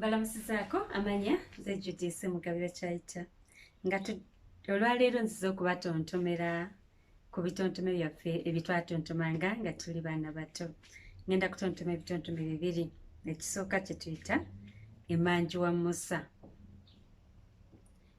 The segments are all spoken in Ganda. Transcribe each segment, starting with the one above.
balamusizaako amanya ze judisi mugabira kyayita nga olwaleero nziza okubatontomera ku bitontome byaffe ebitwatontomanga nga tuli baana bato ngenda kutontoma ebitontome bibiri ekisooka kyetuyita emanju wa musa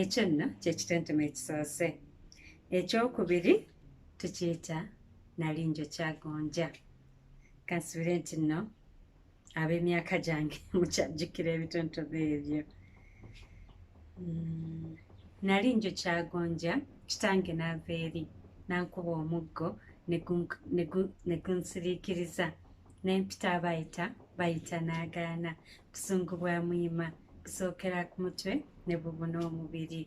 ekyo nno kyekitentema ekisoose ekyokubiri tukiyita nali njo kyagonja kansubire nti nno ab'emyaka gyange mukyajjukira ebitontome ebyo mm, nali njo kyagonja kitange naava eri nankuba omuggo negunsiriikiriza nempita abayita bayita n'agaana busungu bwa muyima kusookera ku mutwe ne bubuna omubiri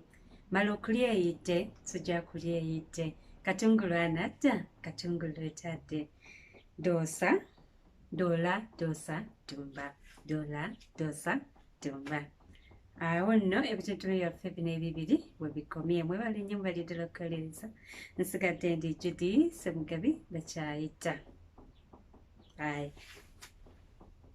mala okulya eyidde sojja kulya eyidde katungulu anadda katungulu etadde doosa doola doosa tumba doola doosa tumba awo nno ebitutulu byaffe bino ebibiri webikomye mwebala ennyo mubaliddala okukolereza nsigadde ndi judi semugabi bakyayita ayi